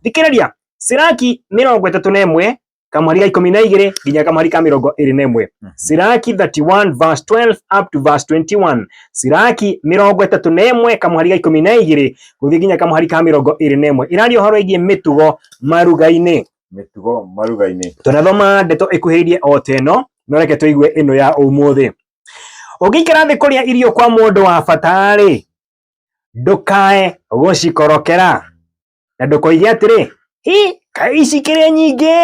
thikĩrĩria Siraki mĩrongo ĩtatũ na ĩmwe kamweri ga ikũmi na igĩrĩ nginya kamweri ka mĩrongo ĩrĩ na ĩmwe Mhm. Siraki 31 verse 12 up to verse 21 Siraki mĩrongo ĩtatũ na ĩmwe kamweri ga ikũmi na igĩrĩ gũthiĩ nginya kamweri ka mĩrongo ĩrĩ na ĩmwe ĩraria ũhoro ĩgiĩ mĩtugo maruga-inĩ mĩtugo maruga-inĩ tũnathoma ndeto ĩkuhĩrĩirie o ta ĩno no reke tũigue ĩno ya ũmũthĩ ũngĩikara thĩ kũrĩa irio kwa mũndũ wa bata-rĩ ndũkae gũcikorokera na ndũkoige atĩrĩ hĩ kaĩ ici kĩrĩ nyingĩ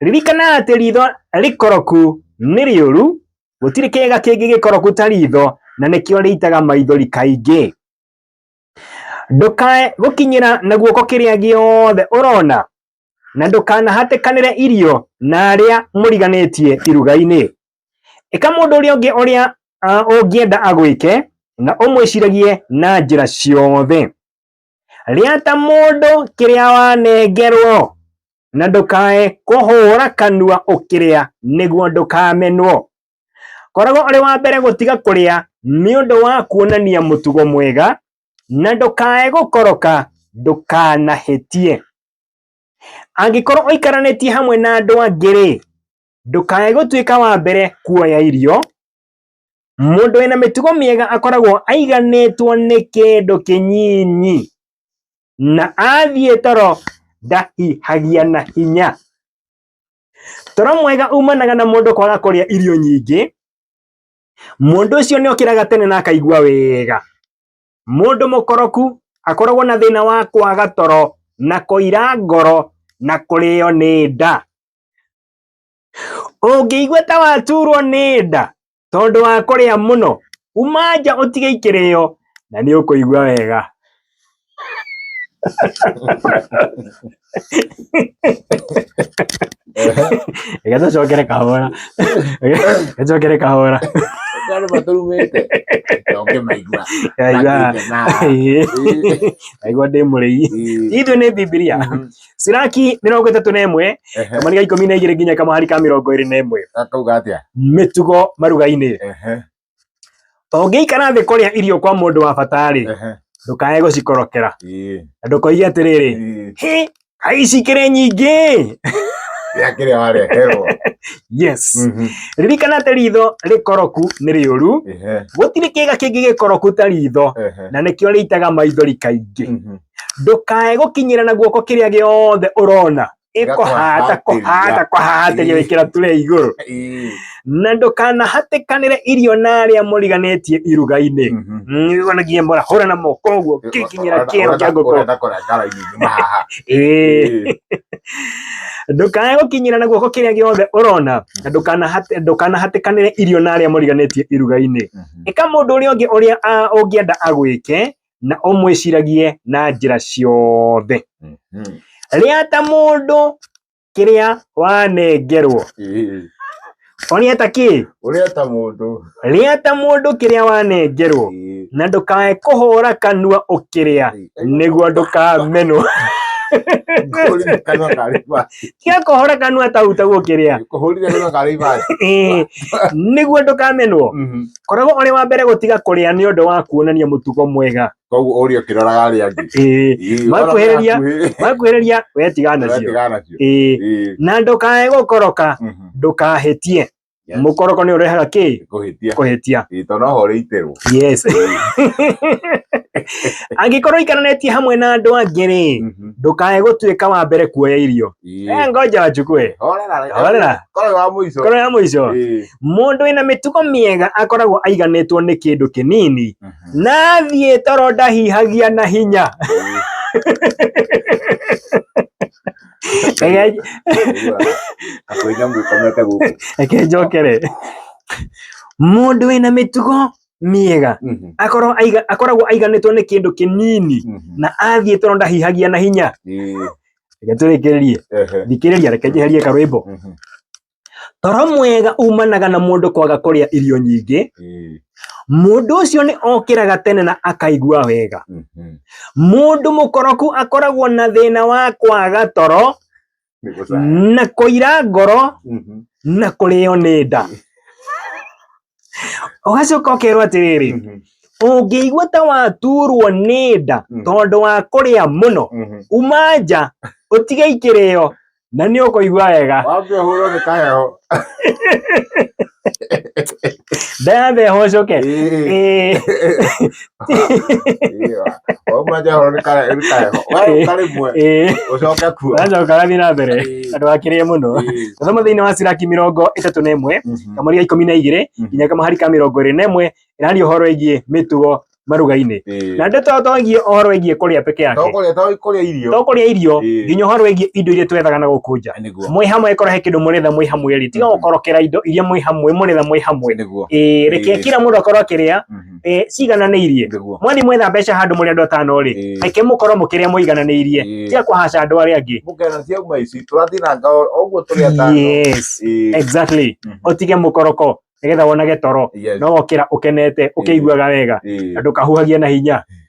ririkana atĩ ritho rĩkoroku nĩ rĩũru gũtirĩ kĩga kĩngĩ gĩkoroku ta ritho na nĩkĩo rĩitaga maithori kaingĩ ndũkae gũkinyĩra na guoko kĩrĩa gĩothe ũrona na ndũkanahatĩkanĩre irio na arĩa mũriganĩtie iruga-inĩ ĩka mũndũ ũrĩa ũngĩ ũrĩa ah, ũngĩenda agwĩke na ũmwĩciragie na njĩra ciothe Rĩa ta mũndũ kĩrĩa wanengerwo, na ndũkae kũhũra kanua ũkĩrĩa nĩguo ndũkamenwo. Koragwo ũrĩ wa mbere gũtiga kũrĩa nĩ ũndũ wa kuonania mũtugo mwega, na ndũkae gũkoroka ndũkanahĩtie. Angĩkorwo ũikaranĩtie hamwe na andũ angĩ-rĩ, ndũkae gũtuĩka wa mbere kuoya irio, Mũndũ wĩna mĩtugo mĩega akoragwo aiganĩtwo nĩ kĩndũ kĩnyinyi, na athiĩ toro ndahihagia na hinya. Toro mwega umanaga na mũndũ kwaga kũrĩa irio nyingĩ, mũndũ ũcio nĩ okĩraga tene na akaigua wega. Mũndũ mũkoroku akoragwo na thĩna wa kwaga toro, na kũira ngoro, na kũrĩo nĩ nda. ũngĩigua ta waturwo nĩ nda tondũ wa kũrĩa mũno uma nja ũtige ikĩrĩo na nĩ ũkũigua wega reke tũcokere kahora reke tũcokere kahora Kwani maturumĩte ndũngĩmaigua Aigua- Matigana. aigua ndĩ mũrĩi Ĩĩ. ithu nĩ bibilia Mhm. Siraki mĩrongo ĩtatũ na ĩmwe Ehe. kamani ga ikũmi na igĩrĩ nginya kamahari ka mĩrongo ĩrĩ na ĩmwe Akauga atĩa? mĩtugo maruga-inĩ Ehe. ũngĩikara thĩ kũrĩa irio kwa mũndũ wa bata-rĩ Ehe. ndũkae gũcikorokera Ĩĩ. na ndũkoige atĩrĩrĩ Ĩĩ. "Hĩ, ai cikĩrĩ nyingĩ Rĩa kĩrĩa wareherwo. yes Mhm. ririkana atĩ ritho rĩkoroku nĩ rĩũru Ehe. gũtirĩ kĩga kĩngĩ gĩkoroku ta ritho Ehe. na nĩkĩo rĩitaga maithori kaingĩ Mhm. ndukae gukinyira na guoko kiria giothe urona ikuhata kuhata kuhatiria wikira ture iguru na ndũkanahatikanĩre irio na arĩa mũriganĩtie iruga-inĩ nĩgonagia mhm. mbora hũra na moko ũguo kĩkinyĩra kĩero kĩa ngũkũ ndũkae gũkinyĩra na guoko kĩrĩa gĩothe ũrona na mhm. ndũkanahatĩkanĩre irio na arĩa mũriganĩtie iruga-inĩ mhm. ĩka mũndũ ũrĩa ũngĩ ũrĩa ũngĩenda agwĩke na ũmwĩciragie na njĩra ciothe Mhm. rĩa ta mũndũ kĩrĩa wanengerwo Ĩĩ. ũrĩa ta kĩ Ũrĩa ta mũndũ. rĩa ta mũndũ kĩrĩa wanengerwo Ĩĩ. na ndũkae kũhũra kanua ũkĩrĩa Ĩĩ. nĩguo ndũkamenwo Kũhũrire kanua karĩ ibati. tiga kũhũra kanua tau tau ũkĩrĩa Kũhũrire kanua karĩ ibati. Ĩĩ, nĩguo ndũkamenwo Mhm. koragwo ũrĩ wa mbere gũtiga kũrĩa nĩ ũndũ wa kuonania mũtugo mwega koguo ũrĩa ũkĩroraga arĩa angĩ Ĩĩ, Ĩĩ, Makuhĩrĩria, ona hakuhĩ. makuhĩrĩria wetiga nacio Wetiga nacio. Ĩĩ, Ĩĩ, na ndũkae gũkoroka mhm. ndũkahĩtie Yes. mũkoroko nĩ ũrehaga kĩ Kũhĩtia. kũhĩtia Ĩĩ, tondũ no ho ũrĩ iterwo yes angĩkorwo iikaranĩtie hamwe na andũ angĩ rĩ Mhm. ndũkae gũtuĩka wa mbere kuoya irio Eh, ngoja wachukue horera koro ya muico koro ya muico mundu ina mitugo miega akoragwo aiganetwo ni kindu kinini mhm. na thie toro ndahihagia na hinya reke njokere mundu wina mitugo miega mhm. akorwo akoragwo aiganitwo ni kindu kinini mhm. na athie toro ndahihagia na hinya reke tũrĩkĩrĩrie Ehe. thikĩrĩria reke njeherie karwĩmbo Mhm. toro mwega umanaga na mũndũ kwaga kũrĩa irio nyingĩ Ĩĩ. mũndũ ũcio nĩ okĩraga tene na akaigua wega Mhm. mũndũ mũkoroku akoragwo na thĩna wa kwaga toro Nĩ gũcaya. na kũira ngoro Mhm. na kũrĩo nĩ nda ũgacoka ũkerwo atĩrĩrĩ Mhm, ũngĩigua ta waturwo nĩ nda Mm. tondũ wa kũrĩa mũno mhm. uma nja ũtige ikĩrĩo na nĩ ũkũigua wega wambe ũhũrwo nĩ kaheho ndathe hocoke Ĩĩ. Ĩĩ. ũmanjahoro nĩ kareho nĩ karĩmwe ũcoke kuo nacoka gathiĩ na mbere andũ akĩrĩe mũno tũthoma thĩinĩ wa ciraki mĩrongo ĩtatũ na ĩmwe kamũri ga ikũmi na igĩrĩ nginya kamũhari ka mĩrongo ĩrĩ na ĩmwe ĩraria ũhoro ĩgiĩ mĩtugo maruga-inĩ na ndeto to ĩgiĩ ũhoro ĩgiĩ kũrĩa peke yake tokũrĩa irio tokũrĩa irio Ĩĩ. nginya ũhoro ĩgiĩ indo iria twethaga na gũkũnja nĩguo mwĩ hamwe korwo he kĩndũ mũretha mwĩ hamwe rĩ tiga Mhm. gũkorokera indo iria mwĩ hamwe mũretha mwĩ hamwe nĩguo ĩĩ reke Ĩĩ. kila mũndũ akorwo akĩrĩa eh, ciigananĩirie Ngĩguo. mwathi mwetha mbeca handũ mũrĩ andũ atano rĩ Ĩĩ. reke mũkorwo mũkĩrĩa mũigananĩirie Ĩĩ. tia kũhaca andũ arĩa angĩ Mũkena cia uma ici tũrathiranga oguo tũrĩ atano. yes Ĩĩ. exactly Mhm. ũtige mũkoroko nĩgetha wonage toro Yes. no wokĩra ũkenete ũkĩiguaga wega Ĩĩ. na ndũkahuhagia na hinya